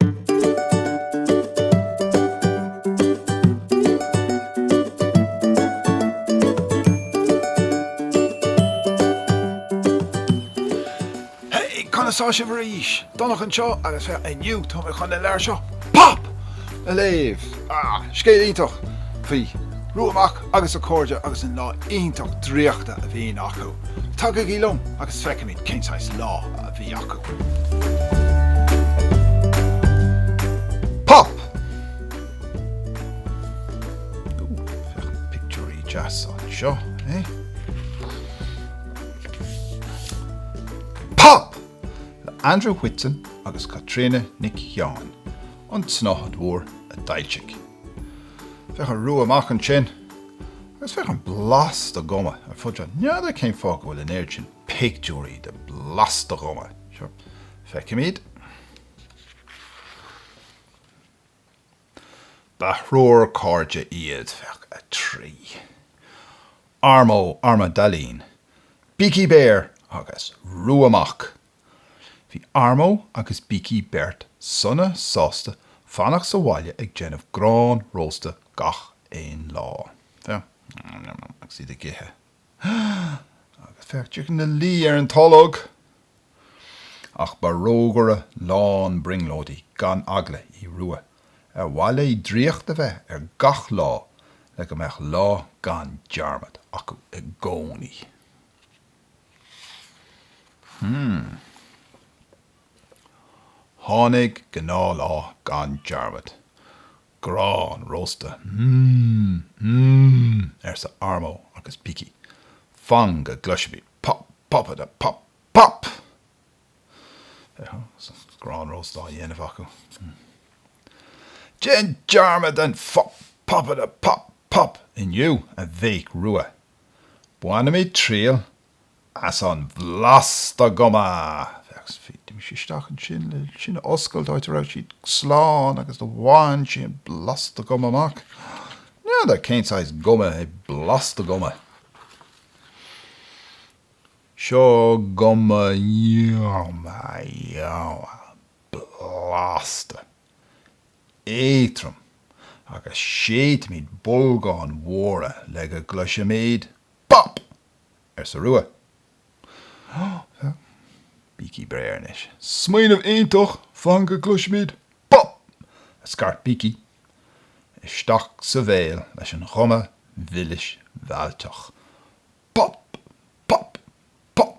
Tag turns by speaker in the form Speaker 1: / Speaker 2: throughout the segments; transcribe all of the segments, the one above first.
Speaker 1: Hey! Conas tá sibh arís? Donncha anseo agus inniu tá mé chun an leabhar seo, pop! a léamh. Ah, scéal iontach faoi Rua Mac agus a cairde agus an lá iontach draíochta a bhíonn acu. Tagaigí liom agus feicfimid cén saghas lá a bhí acu. Pop! Ooh, féach na pictiúirí deas anseo, é? Pop! le Andrew Whitson agus Caitríona Nic Sheáin. an tsnáthaid mhór a d'fhoilsigh Féach ar Rua Mac ansin agus féach an blasta guma ar fud seo. N'fheadar cén fáth go bhfuil an oiread sin pictiúirí de blasta guma. Sure, feicimid. Ba thriúr cairde iad, féach 3. Armo Armadailín, Bící Béar agus Rua Mac. Bhí Armo agus Bící Béar sona sásta fanacht sa bhaile ag déanamh grán rósta gach aon lá. Agus iad ag ithe. Agus féach, Bící ina luí ar an tolg! Ach ba rógaire lán brionglóidí gan eagla í Rua ar mhaith léi draíocht a bheith ar gach lá le go mbeadh lá gan dearmad acu i gcónaí. Tháinig gnáthlá gan dearmad. Grán rósta, mm, mm, arsa Armo agus Bící. Fan go gcloisfimid pop, popadapop, pop! Féach, an bhfuil grán rósta á dhéanamh acu? Déan dearmad den phop, popadapop, pop! inniu, a bhéic Rua. Bainimid triail as an bhlasta guma! Féach, bhí sí isteach ansin le sin a oscailt, áit a raibh siad slán agus do bhain sí an blasta guma amach. N'fheadar cén saghas guma é blasta guma. Seo guma yum yum blasta. Éadrom, agus séidfimid bolgáin mhóra le go gcloisfimid pop! arsa Rua. Bící Béar anois. Smaoineamh iontach! Fan go gcloisfimid pop! a scairt Bící. Isteach sa bhéal leis an ghuma mhilis mheallteach. Pop! Pop! Pop!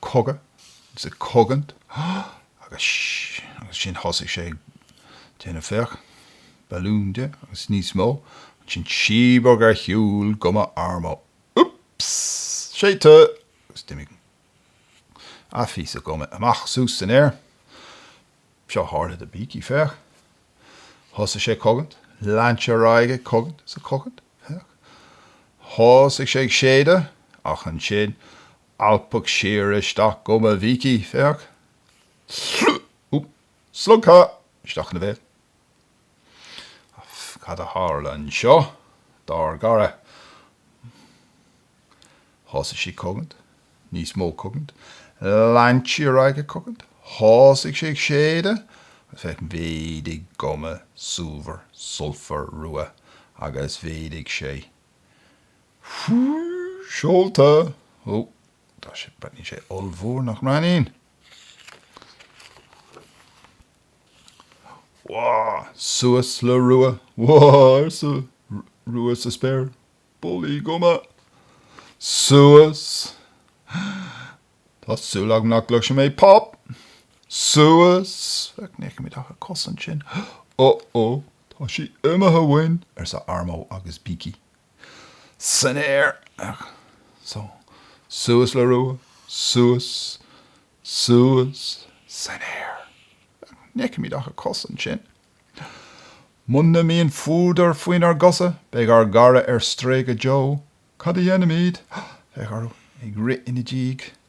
Speaker 1: cogaint, is ag cogaint agus agus sin thosaigh sé ag déanamh féach, balún de agus níos mó, ansin síobadh ar shiúl guma Armo oops! séideadh agus d'imigh a phíosa guma amach suas san aer, seo a tharla do Beaky féach, thosaigh sé ag cogaint, lean sé ar aghaidh ag cogaint is ag cogaint, féach, thosaigh sé ag séideadh ach ansin alpadh siar isteach guma Bheaky, féach, slog, slogtha isteach ina bhéal. Cad a tharla anseo, dár gcara? Thosaigh sí ag cogaint, níos mó cogaint, lean sí ar aghaidh ag cogaint, thosaigh sé ag séideadh, agus féach, mhéadaigh guma, sultmhar, sultmhar Rua, agus mhéadaigh sé. seolta. Ó, tá sé, breathnaíonn sé ollmhór, nach mbreathnaíonn? Whoa! Suas le Rua. Whoa! arsa Rua sa spéir. Bulaí guma! Suas. Tá súil agam nach gcloisfidh mé pop! Suas. Féach, ní fheicimid ach a cosa ansin. Uh-oh, tá sí imithe uainn! arsa Armo agus Beaky. san aer, so, suas le Rua, suas, suas, san aer, ní fheicimid ach a cosa ansin. Muna mbíonn fuadar faoinár gcosa, beidh ár gcara ar strae go deo. Cad a dhéanfaimid? Féach orthu ag rith ina diaidh.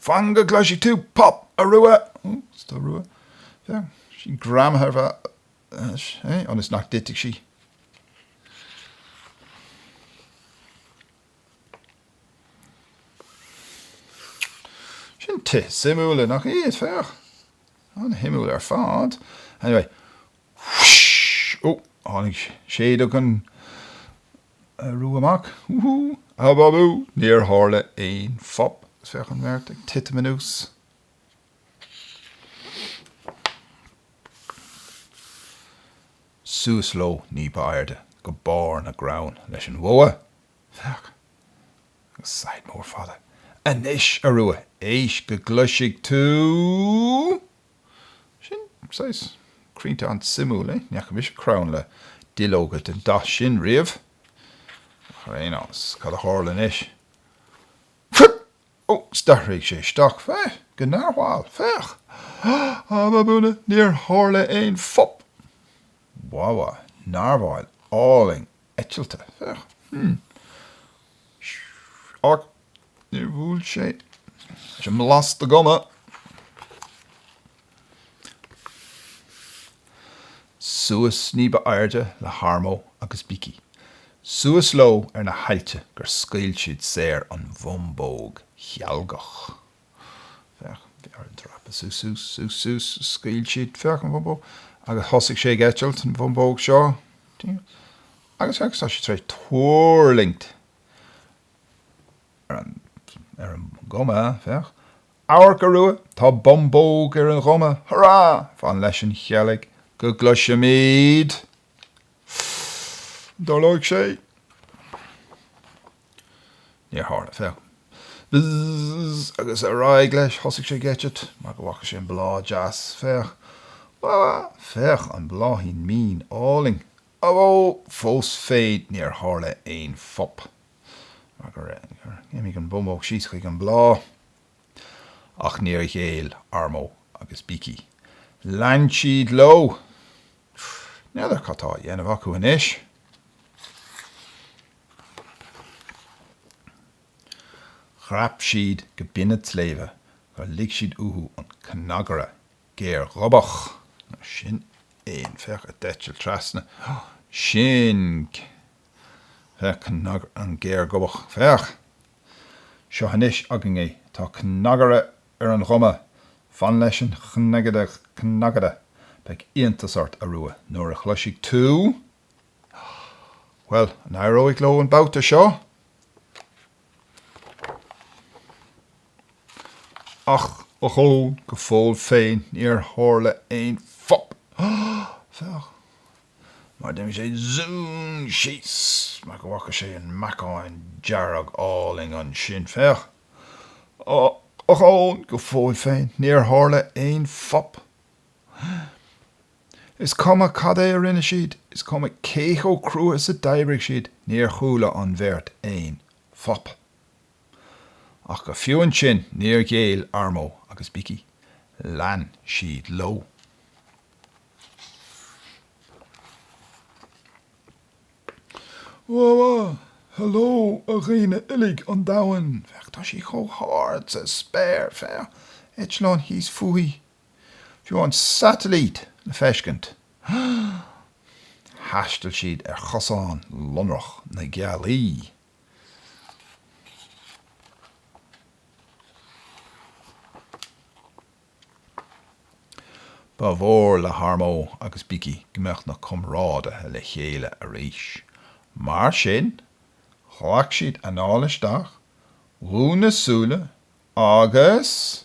Speaker 1: Fan go gcloisfidh tú pop, a Rua! Ó, is do Rua. Bheadh sí greamaithe ar bhata, é? Ionas nach dtitfidh sí. Sin tithe suimiúla, nach iad? Féach. An-shuimiúil ar fad. Anyway. Ó, tháinig séideog an. Arú amach! Wúhú! Ababú! Níor tharla aon phop. Agus féach an bheirt ag titim anuas. Suas leo ní ba airde go barr na gcrann leis an bhogha. Féach! Agus saighead mór fada. Anois, a Rua! Éist go gcloisfidh tú! Sin saghas crainnte an-suimiúil, é? Ní fhaca mise crann le duilleoga den dath sin riamh. Ach ar aon nós, cad a tharla anois? Fuip! Ó, 's d'athraigh sé isteach. Féach! Go narwhal! Féach! Ababúna, níor tharla aon phop! Wah-wah, narwhal álainn! eitilte. Féach, hm. Ach níor bhuail sé leis an mblas de guma. Suas ní ba airde le hArmo agus Beaky. Suas leo ar na haillte gur scaoil siad saor an bhumbóg chealgach. Féach, bheirt ag dreapadh suas, suas, suas, suas, scaoil siad, féach an bhumbóg, agus thosaigh sé ag eitilt, an bhumbóg seo, agus féach, tá sé tar éis tuirlingt ar an, ar an nguma, féach, amharc, a Rua, tá bumbóg ar an ghuma, hurá, fan leis an cheilg go gcloisfimid, an dtarlóidh sé? Níor tharla. Féach. Bzzzz. Agus ar aghaidh leis. Thosaigh sé ag eitilt mar go bhfaca sé an bláth deas. Féach. Bhá! Féach, an bláithín mín álainn. Á bhó! Fós féin níor tharla aon phop. Mar gur imigh an bhumbóg síos chuig an bhláth. Ach níor ghéill Armo agus Beaky. Lean siad leo! N'fheadar cad tá á dhéanamh acu anois. Dhreap siad go binn an tsléibhe gur lig siad uathu an cnagaire géarghobach. Ó sin éan féach a d'eitil trasna. Ó, sin é cnagaire an géarghobach. Féach! Seo anois againn é. Tá cnagaire ar an ghuma. Fan leis an cnagaire. Beidh iontas ort, a Rua, nuair a chloisfidh tú. Bhuel, an éireoidh leo an babhta seo? Ach ochón, go fóill féin níor tharla aon phop, féach, mar d'imigh sé zúm síos mar go bhfaca sé an meacan dearg álainn ansin, féach. Ochón, go fóill féin níor tharla aon phop. Is cuma cad é a rinne siad, is cuma cé chomh crua is a d'oibrigh siad, níor chuala an bheirt aon phop. Ach go fiú ansin níor ghéill Armo agus Beaky, lean siad leo. Whoa-a, hello a dhaoine uilig an domhain, féach tá sí chomh hard sa spéir, féach, eitleán thíos fúithi. Bhí an satailít le feiscint. Thaistil siad ar chosán lonrach na gealaí. Ba mhór le Tharmo agus Biki go mbeadh na comrádaithe le chéile arís. Mar sin, ghlac siad anáil isteach, dhún na súile agus.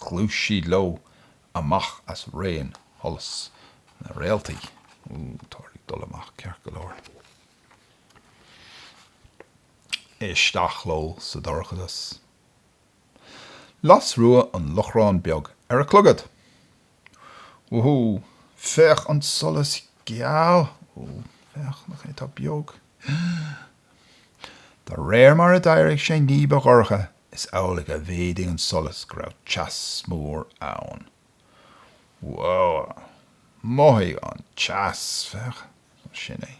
Speaker 1: Ghluais siad leo amach as raon sholas na réaltaí. Ó, táthar ag dul amach ceart go leor. Isteach leo sa dorchadas. Las Rua an lóchrann beag ar a clogad. Wúhú! Féach an solas geal! Ó, féach, nach é atá beag! De réir mar a d'éirigh sé ní ba dhorcha, is amhlaidh a mhéadaigh an solas go raibh teas mór ann. Woohh! Mothaigh an teas! Féach, sin é.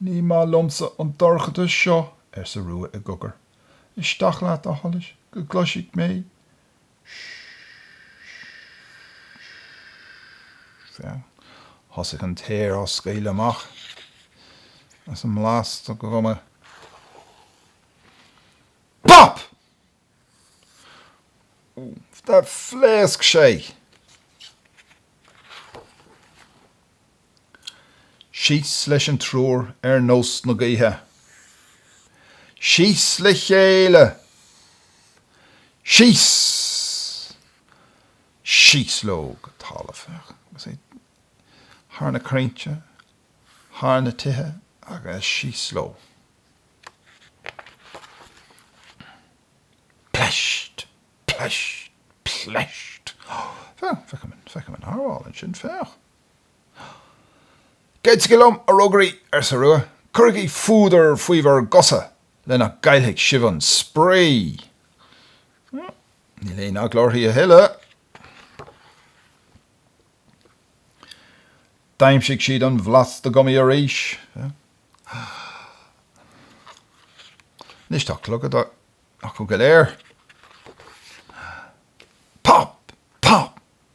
Speaker 1: Ní maith liomsa an dorchadas seo, arsa Rua i gcogar. Isteach leat, a sholais, go gcloisfidh mé Thosaigh an t-aer á scaoileadh amach as an mblas de ghuma Pop! Phléasc sé! Síos leis an triúr ar nós na gaoithe. Síos le chéile! Síos! Síos leo go talamh. Féach é thar na crainnte, thar na tithe agus síos leo. Pleist! Pleist! Pleist! Féach, féach an mearbhall ansin, féach! Goitsigí liom, a rógairí, arsa Rua. Cuirigí fuadar faoi bhur gcosa le nach gcaillfidh sibh an spraoi. Níl aon eagla uirthi a thuilleadh. D'aimsigh siad an bhlas de ghuma arís. Anois tá clogad acu go léir. Pop! Pop!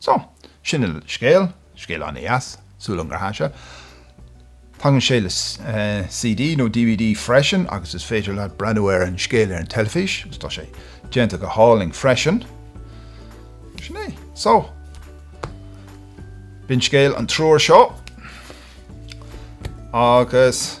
Speaker 1: So, sin an scéal, scéal an-deas, súil an ghrá seo. Tagann sé le CD nó dvd freisin agus is féidir leat breathnú ar an scéal ar an teilifís agus tá sé déanta go hálainn freisin. Sin é. So, b'in scéal an triúir seo agus.